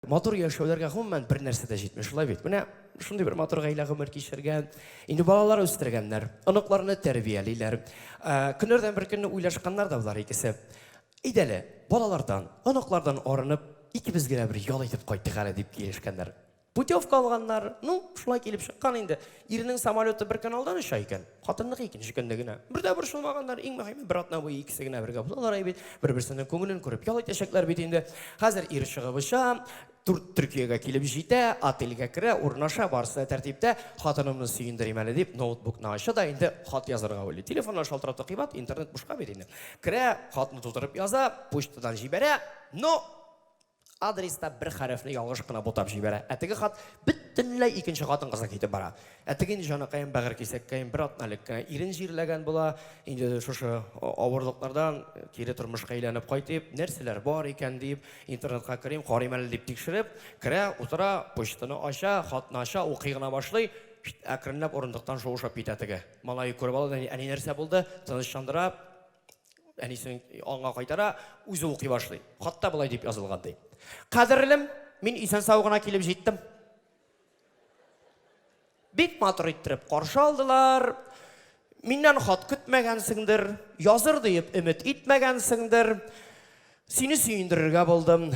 Матур яшәүләргә гомумән бер нәрсә дә җитми, шулай бит. Менә шундый бер матур гаилә гомер кичергән. Инде балалар үстергәннәр, оныкларны тәрбиялиләр. Ә, көннәрдән бер көнне уйлашканнар да болар икесе. Идәле, балалардан, оныклардан арынып, икебез генә бер ял итеп кайттык әле дип килешкәннәр. Путевка алганнар. Ну, шулай килеп чыккан инде. Ирнең самолеты бер каналдан оча икән, хатынныкы икенче көнне генә. Бер дә борчылмаганнар, иң мөһиме, бер атна буе икесе генә бергә булалар әй бит, бер-берсенең күңелен күреп ял итәчәкләр бит инде. Хәзер ир чыгып оча, Турт Төркиягә килеп җитә, отельгә керә, урнаша, барысы да тәртиптә. Хатынымны сөендерим әле дип, ноутбукны ача да инде хат язарга уйлый. Телефоннар шалтырата кыйбат, интернет бушка бит инде. Керә, хатны тутырып яза, почтадан җибәрә, но! Адреста бер хәрефне ялгыш кына бутап җибәрә. Ә теге хат бөтенләй икенче хатын-кызга китеп бара. Ә теге инде җаныкаем, бәгырь кисәккәем бер атна элек кенә ирен җирләгән була. Инде шушы авырлыклардан кире тормышка әйләнеп кайтыйм, нәрсәләр бар икән дип, интернетка керим, карыйм әле дип тикшереп, керә, утыра, почтаны ача, хатны ача, укый гына башлый, әкренләп урындыктан шуышып китә теге. Малае күреп ала да, Әни, нәрсә булды? Тынычландыра. Әнисен аңа кайтара, үзе укый башлый. Хатта болай дип язылган ди. Кадерлем, мин исән-сау гына килеп җиттем. Бик матур иттереп каршы алдылар. Миннән хат көтмәгәнсеңдер, языр диеп өмет итмәгәнсеңдер. Сине сөендерергә булдым.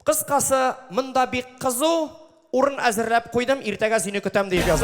Кыскасы, монда бик кызу урын әзерләп куйдым, иртәгә сине көтәм дип язган.